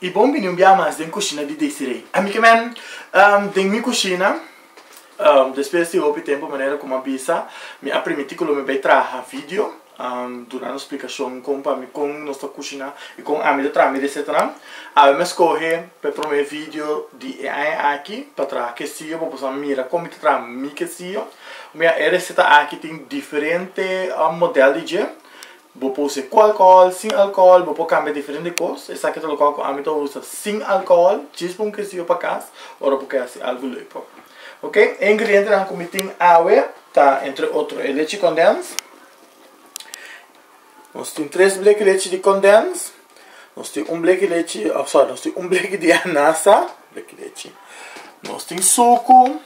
Y bon bini un bia mas den cushina di Desiree. A mi kimen den mi cushina, despues di hopi tempo manera como a bisa, mi a primiti cu lo mi bay traha video, durando explicacion con pa mi con nos ta cushina y con ami ta traha mi recetanan. Awe mi a scoge pe prome video di e aña aki pa traha quesillo pa boso a mira con mi ta traha mi quesillo. Mira e receta aki tin diferente model di dje. Bo por usa e cu alcohol, sin alcohol, bo por cambia diferente cos, esaki ta local cu ami ta usa sin alcohol, djis pa un kesiyo pa cas, ora bo ke haci algo lei por. Ok, e ingredientenan cu mi tin awe ta entre otro e lechi condens, nos tin tres bleki lechi di condens, nos tin un bleki lechi, oh sorry, nos tin un bleki di anasa, bleki lechi, nos tin sucu,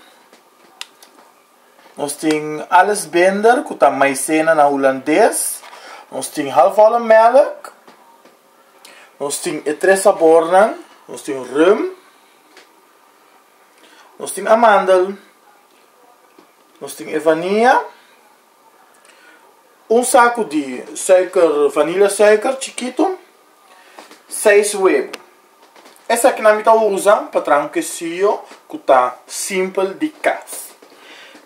Nos tin Alice Binder ku ta maisena na hulandes, nos tin halfvolle melk, nos tin e tres sabornan, nos tin rum, nos tin amandel, nos tin e vania, un saku di suiker, vanila suiker chikito, seis webo. Esaki-nan mi ta usa pa traha un kesiyo ku ta simpel di kas.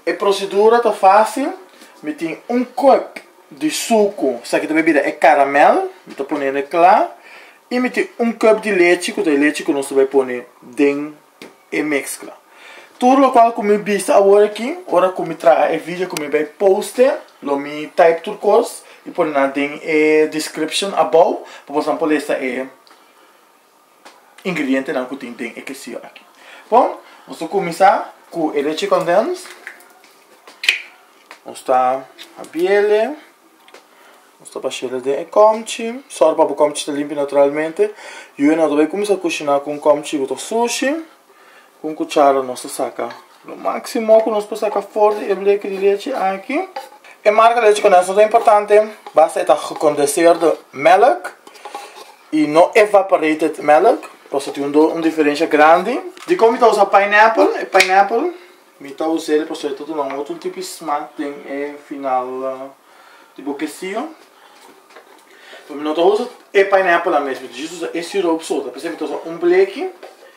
E prosedura ta fásil, mi tin un kuep di suku, sa ki ta bebida e karamèl, mi ta pone na kla, i mi tin un kuep di lechi, ku ta e lechi ku nos ta bai pone den e meskla. Tur lokual ku mi bisa awor aki, ora ku mi traha e video ku mi bai poste, lo mi type tur kos i pone nan den e description abou, pa bosnan por lesa e ingredientenan ku tin den e quesillo aki. Bon, nos ta kuminsá ku e leche kondèns. Nos ta habiele, nos ta bash'é den e kòmchi. Sòru pa bo kòmchi ta limpio naturalmente. Yu a nou ta bai kuminsá kushiná ku un kòmchi ku ta sushi. Ku un kuchara nos ta saka lo máksimo ku nos por saka for di e bleke di lechi aki. E marka lechi kondensá ta importante basta e ta gekondenseerde mèlk i no evaporated mèlk pasobra tin un un diferensha grandi. Dikon mi ta usa pineapple? E pineapple mi ta us'é e pasobra e ta duna un otro tipo di smak den e final di bo kesiyo. Mi no ta usa e pineapple la mes mi ta jis usa e sirop so ta p'esei mi ta usa un bleki.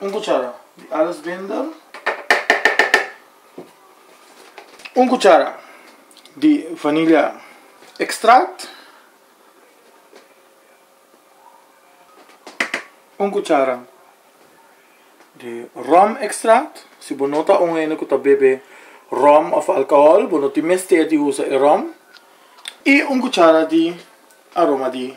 Un cuchara di alles binder. Un cuchara di vanilla extract. Un cuchara di rum extract. Si bo no ta un hende cu ta bebe rum of alcohol bo no tin mester di usa e rum. Y un cuchara di aroma di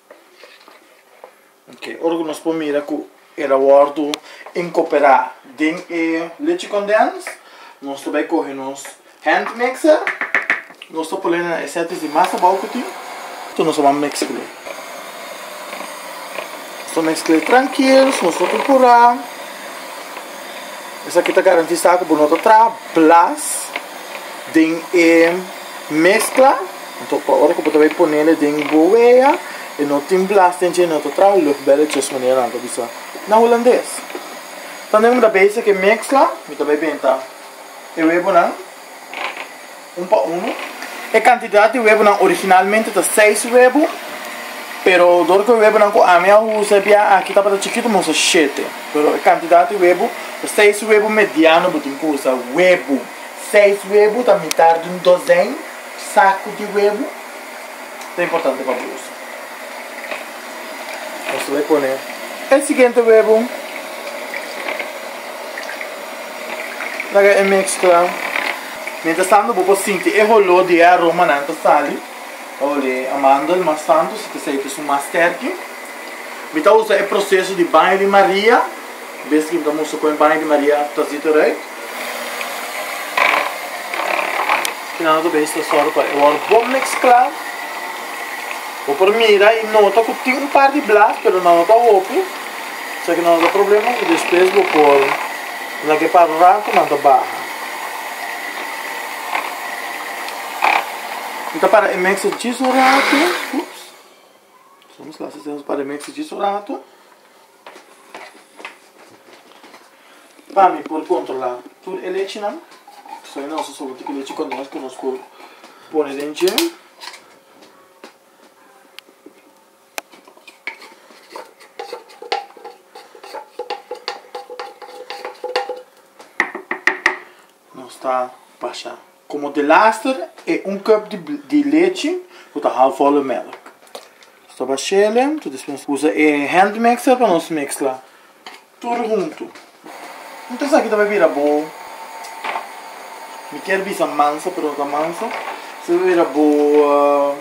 Oke, ora ku nos por mira ku el a wòrdu inkoperá den e lechi kondèns, nos ta bai kohe nos hand mixer, nos ta pone na e sètis di mas abou ku tin, tok nos a ban meskle. Nos ta meskle trankil, nos ta purpurá, esaki ta garantisá ku bo no ta traha blas den e. Mezcla, enton pa ora cu bo ta bay ponele den bo wea y no tin blas den dje no ta traha luchtbelletjes manera nan ta bisa na Hulandes. Tando mi ta bezig cu e mezcla mi ta bay benta e webonan un pa uno. E cantidad di webonan originalmente ta seis webo pero door cu e webonan cu ami a usa e bia aki tabata chikito mi usa shete pero e cantidad di webo ta seis webo mediano bo tin cu usa webo. Seis webu ta mitar di un dosen saku di webu. Ta importante pa bo usa. Nos ta bay pone e siguiente webu. Laga e mezcla. Mientras tanto bo por sinti e holor di e aromanan ta sali. Ta ole a mandel mas tanto si ta seita su mas sterki. Mi ta usa e proceso di baño di Maria. Bes tin ta musta pone baño di Maria after ta zit eruit. Kina lo ta bes ta sòru pa e wòrdu bon mezclá. Bo por mira i nota ku tin un par di blas pero nan no ta hopi. Sa kina lo ta problema i despues bo por lag'é pa ratu nan ta baha. Mi ta para e mèkster djis un ratu. Oops! Soms lasa esei nos para e mèkster djis un ratu. Pa mi por controla tur e lechi nan so e nos a sobo tin ki lechi con nos cu nos por pone den dje nos ta pasha. Komo de laster e un cup di lechi ku ta half whole melk. Nos ta bash'el en ta despues usa e hand mixer pa nos mixla tur huntu. Mi ta sa ki ta por bira bo, mi kier bisa mansa pero no ta mansa, mi ta bira bo.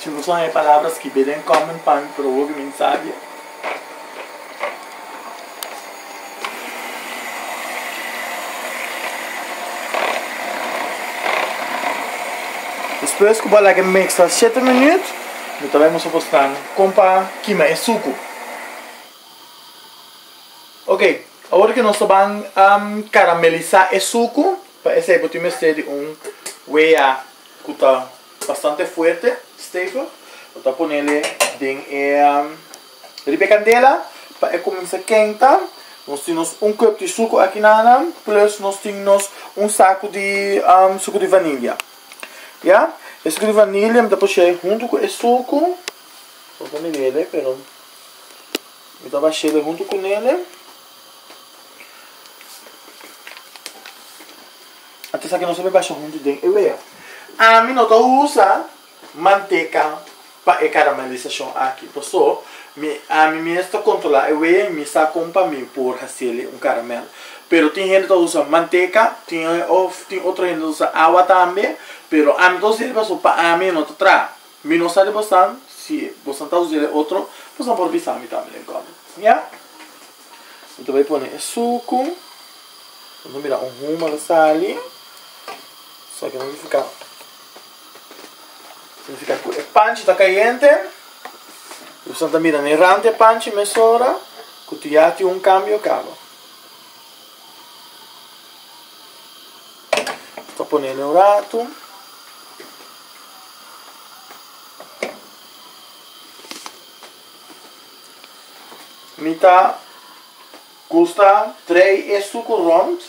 Si nos wak e palabra skibé den kòment pa mi pero hopi mi sabia. Despues ku bo a laga e meksa shete minüt, mi ta bai musa bo snan kon pa kima e suku. Oke, awor ke nos ta ban karamelisá e suku. Pa esei bo tin mester di un wea ku ta bastante fuerte, stevig, bo ta ponele den e riba e kandela pa e kuminsa kenta, nos tin nos un kup di suku aki nana plus nos tin nos un saku di suku di vanilya ya e suku di vanilya mi ta pushe huntu ku e suku bo ta mirele pero mi ta bashele huntu ku nele. Ata esaki nos a mi basha huntu den e wea. Ami no ta usa manteka pa e karamelisashon aki, pasobra mi ami mes ta kontrola e wea i mi sa kon pa mi por hasel'e un karamel. Pero tin hende ta usa manteka, tin, òf tin otro hende ta usa awa tambe, pero ami ta usa e pasobra pa ami e no ta traha. Mi no sa di bosan, si bosan ta usa el e otro, bosan por bisa mi tambe den comment. Ya. Mi ta bai pone e suku. Mi ta mira un huma lo sali. So aki ta significa, significa cu e panchi ta cayente. Mi bosan ta mira ne rante e panchi mesora cu tin ya tin un cambio caba. Ta ponendo un rato. Mi ta gusta trei e stuco rond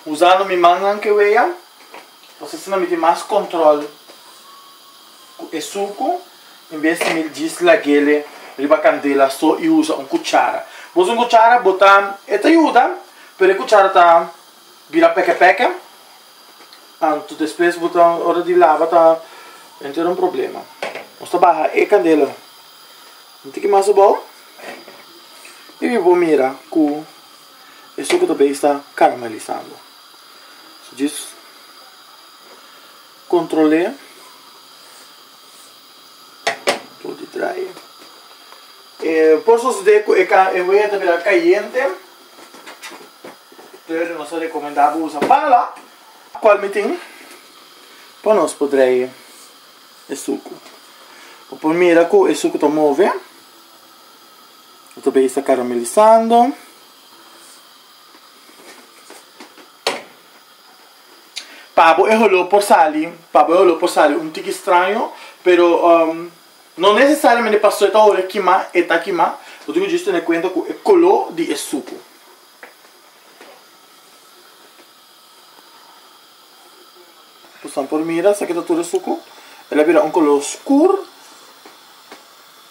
usando mi mannan ke wea, pasobra asina mi tin mas control cu e stuco. En bes di mil djis lagele riba candela so y usa un cuchara. Boso un cuchara bo ta e ta yuda pero e cuchara ta bira peke peke anto despues bo ta ora di lava ta entera un problema. Nos ta baha e candela un tiki mas abao y mi bo mira cu e suker ta bay sta caramelizando. Djis controle. Por sosodé ku e kan, e wea ta bira kayente, dor nos ta rekomendá bo usa pala, kual mi tin, pa nos por drai e suku. Bo por mira ku e suku ta move, bo ta bai e sta karamelisando. Pa bo e holó por sali, pa bo e holó por sali un tiki straño, pero no nesesariamente pasobra e ta olé kimá e ta kimá, bo tin ku djis tene kuenta ku e koló di e suku. Boso no por mira esaki ta tur e suku, el a bira un koló skur,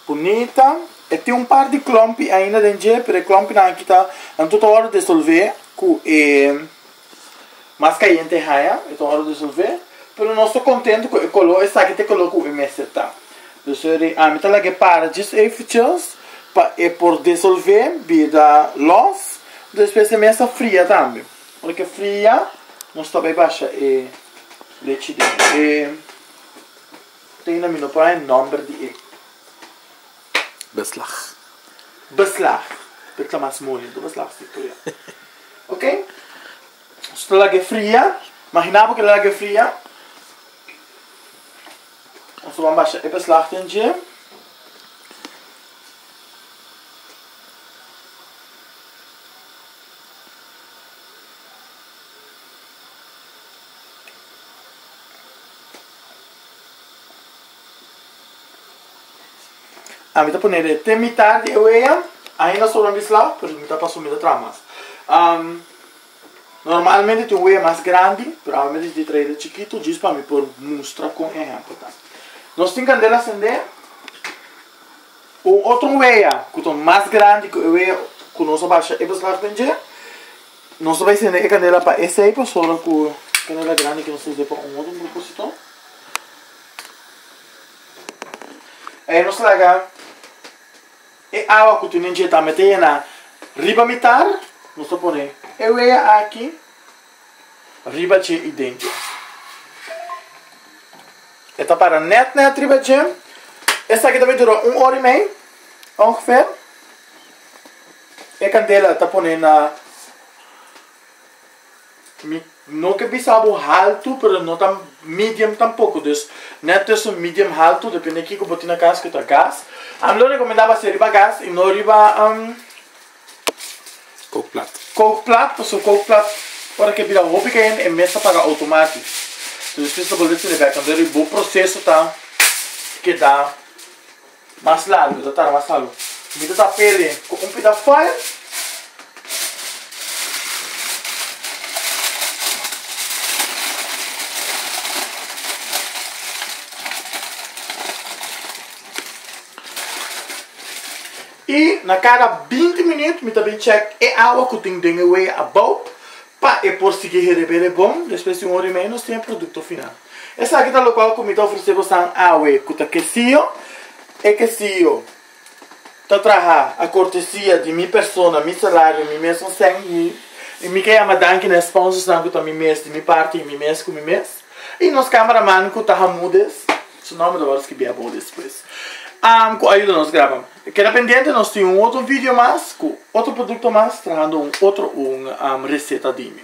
bunita, e tin un par di klòmpi ainda den dje, pero e klòmpinan aki ta nan tota ora desolvé ku e. Mas cayente e haya, e ta ora resolve, pero nos ta contento cu e color esaki ta e color cu e mester ta. Dus eri ami ta laga e para dje eiffeltjes pa e por desolve bida los, despues e mes a fria tambe. Ora cu e fria nos ta bay basha e lechi den e, ta yina mi no por haya nomber di e. Beslag. Beslag. P'e ta mas moli, enton beslag sti fria. Ok. So ta lag'e fria. Magina bo k'e lag'e fria. Nos ta wak basha e beslag den dje. A mi ta ponele te mitad di e weeën, ainda sobra mi sla, pero mi ta paso mi ta traha mas. Um, normalmente tin un weeën mas grandi, pero awe mi ta yete traha e chikitu djis pa mi por mustra con ehempel ta. Nos tin candela sende, un otro weeën cu ta mas grandi cu e weeën cu nos a basha e beslag den dje, nos a bay sende e candela pa esey pasobra cu candela grandi cu nos ta yete pa un otro propusito. E nos laga e awa ku tenen dje ta mete e na riba mitar, nos ta pone e wea aki riba dje i den dje. E ta para nèt nèt riba dje. Esaki ta mi dura un or i mei, ongefèr. E kandela ta pone na. Mi no ta bisa bo haltu pero no ta medium tampoco dus net tussen medium haltu depende kiko bo tin na cas cu ta gas a mi lo recomenda bo a hacer riba gas y no riba cookplat cookplat pasobra cookplat ora ke bira hopi cayendo e mes ta paga automati entonces despues ta bolbe cene bek anto bo proceso ta keda. Mas largo lo ta tara mas largo. Mi ta ta pele cu un pita fire. Y na cada binti minut mi ta bin check e awa cu tin den e wea abao. Pa e por sigui herebele bon, despues di un ora i mei nos tin e produkto final. Esaki ta lokual ku mi ta ofresé bosan awe ku ta kesio. E kesio ta traha a kortesia di mi persona, mi salario, mi mes un sèn i mi ke yama danki na e sponsosnan ku ta mi mes, di mi parti i mi mes ku mi mes. I nos kameraman ku ta hamudes, su nòmber lo wòrdu skibi abou despues, ku a yuda nos graba. Keda pendiente nos tin un otro video mas cu otro producto mas trahando un otro un reseta dimi.